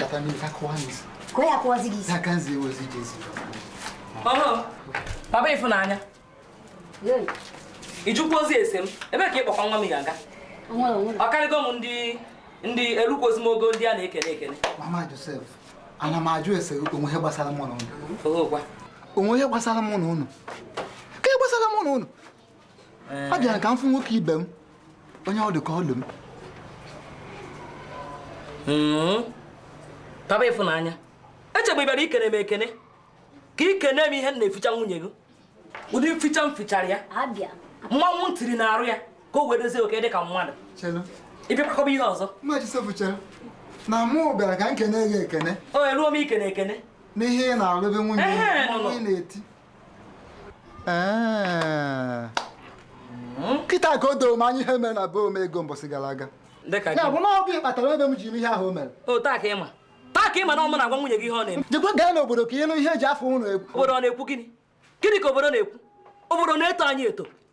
Papa mi ka kwa mi. Kwa ya kwa zigi. Na kan zi wo zi Jesu. Aha. Papa Ifunanya. Yey. Ị jụkwuzi ese m. Ebee ka ị kpọkwa nwa m ya aga. Onwe onwe. Ọ karịgo m ndị ndị erukwuzi m ogo ndị a na-ekene ekene. Mama Josef, ana m ajụ ese o nwe ihe gbasara mụ na unu. Oge ụgwa. O nwe ihe gbasara mụ na unu. Ka ihe gbasara mụ na unu. eh. abịara ka m fụ nwoke ibe m onye ọ dị ka ọ dụ m hmm. papa Ifunanya echebu m ị bịara ikene m ekene ka ikene m ihe m na-eficha nwunye gị ụdị mficha m fichara ya mmanwụ m tiri n'arụ ya ka o wee dịzie okay dị ka mmadụ ị bịa kọba ihe ọzọ na mụ bịara ka m kene gị ekene o eruo m ikene ekene n'ihe ị na-alụbe nwunye ị na-eti kịta ka o doo m anya ihe mere na be Omego mbọsị gara aga ya bụ na ọ bụ ị kpatara be m ji mee ihe ahụ o mere taa ka ị ma taa ka ị ma na ọ mụ na-agwa nwunye gị ihe ọ na-eme jekwa gaa n'obodo ka ị nụ ihe e ji afa unu ekwu obodo ọ na-ekwu gịnị gịnị ka obodo na-ekwu obodo na-eto anyị eto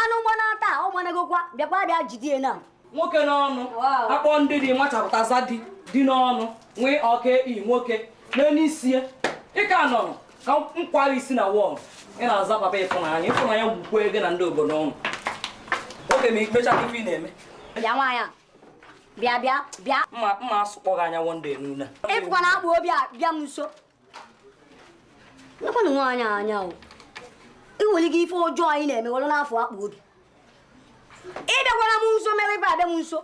anụ gbanaa taa ọ gbanagokwa bịakwa bịa jidie na nwoke n'ọnụ akpọ ndị dị machapụta eze dị gị n'ọnụ nwee ọka ekpi nwoke n'elu isi ya ị ka nọrọ ka m kwara isi na wall ị na-aza papa Ifunanya Ifunanya gbukwe gị na ndị obodo unu okay ma i mecha ife ị na-eme bịa nwaanyị bịa bịa bịa mma mma asụkpọ gị anya one day nuna ị fụkwa na akpụ obi abịa m nso nekwanụ nwaanyị anya o i nwere ike ife ọjọọ a ị na-eme were n'afọ akpụ obi ị bịakwala m nso mere ibe abịa m nso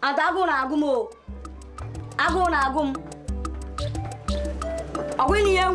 ada agụụ na-agụ m o agụụ na-agụ m ọ gwụghị na ihe m